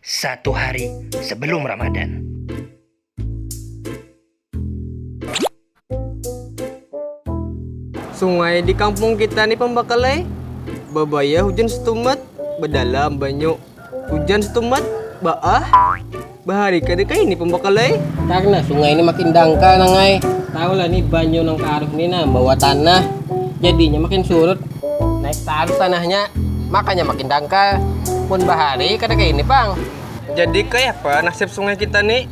Satu hari sebelum Ramadan. Sungai di kampung kita ni pambakalai babaya hujan setumat badalam banyu hujan setumat baah bahari kada kaini pambakalai. Karna sungai ni makin dangkal nang ai, tahulah ni banyu nang kaaruk ni nah bawa tanah jadinya makin surut. naik tahan tanahnya makanya makin dangkal pun bahari kada kaya ini pang jadi kaya apa nasib sungai kita ni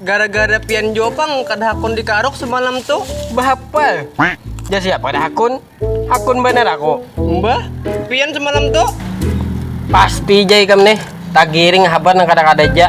gara gara pian jua pang kada hakun di karuk semalam tu bahapa jar siapa kada hakun hakun banar aku mbah pian semalam tu pasti ja ikam nih tagiring habar nang kada kada ja.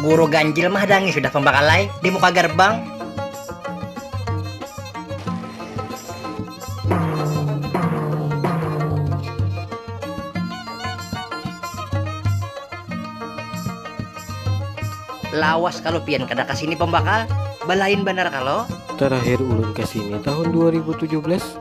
Guru ganjil mahdangi sudah pambakalai di muka garbang. Lawas kalo pian kada kasini pambakal, balain banar kalo. Terakhir ulun kesini tahun dua ribu tujuh belas.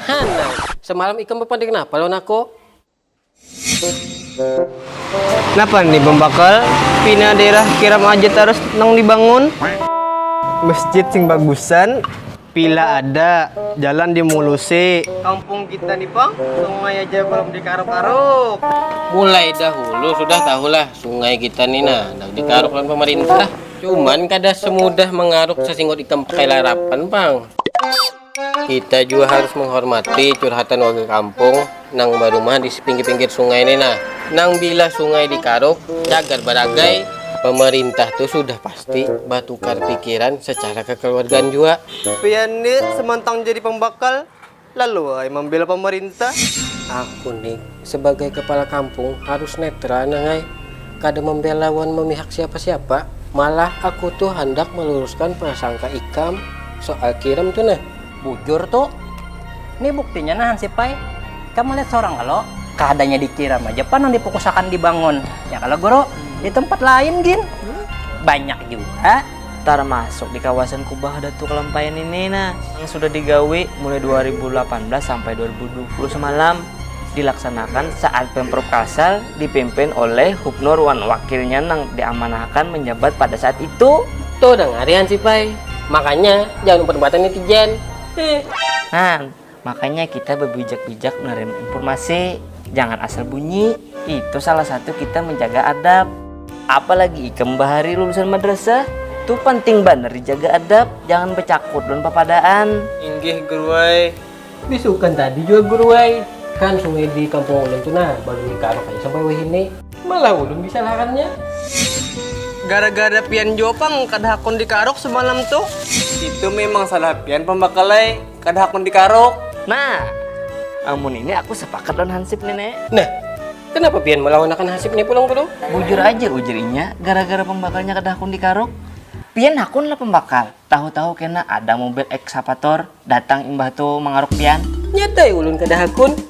Hana, semalam ikam bepander napa lawan aku? Napa ni bambakal pina daerah kiram aja tarus nang dibangun? Masjid sing bagusan pila ada, jalan dimulusi. Kampung kita ni pang sungai aja balum dikaruk-karuk. Mulai dahulu sudah tahulah sungai kita ni nah handak dikaruk lawan pamarintah. Cuman kada semudah mangaruk sasinggot ikam pakai larapan pang. Kita jua harus menghormati curhatan warga kampung nang barumah di pinggir-pinggir sungai ni nah. Nang bila sungai dikaruk, cagar baragai. Pemerintah tu sudah pasti batukar pikiran secara kekeluargaan jua. Pian ni semontang jadi pembakal, lalu ai mambela pemerintah. Aku ni Sebagai kepala kampung harus netral nang ai, kada membela wan memihak siapa-siapa. Malah aku tu handak meluruskan prasangka ikam soal kiram tu nah. Bujur tu. Ni buktinya nah hansip ai, ikam melihat sorang kalo? Kadanya dikiram aja pang nang dipukusakan dibangun, ya kalo guru? Di tempat lain gin banyak jua. tarmasuk di kawasan kubah datu kalampayan ini nah yang sudah digawi mulai 2018 sampai 2020 semalam dilaksanakan saat Pemprov Kalsel dipimpin oleh Hubnur wan wakilnya nang diamanahakan manjabat pada saat itu. Tuh dangari hansip ai, makanya jangan umpat-umpatan netizen. Heh. Nah, Makanya kita bebijak-bijak menerima informasi, jangan asal bunyi, itu salah satu kita menjaga adab. Apalagi ikam bahari lulusan madrasah, tu panting banar dijaga adab, jangan becakut dan papadaan. Inggih guru ai. Besukan tadi jua guru ai. Kan sungai di kampung ulun tu nah baduri karuk haja sampai wahini. Malah ulun disalahannya. Gara-gara pian jua pang kada hakun dikaruk semalam tu. Itu memang salah pian pambakal ai. kada hakun dikaruk nah amun ini aku sepakat lawan hansip nih ne nah kenapa pian melawan akan hansip nih pulang pulang bujur aja ujar inya gara gara pembakalnya kada hakun dikaruk pian hakun lah pembakal tahu tahu kena ada mobil eksapator datang imbah tu mangaruk pian nyatai ulun kada hakun.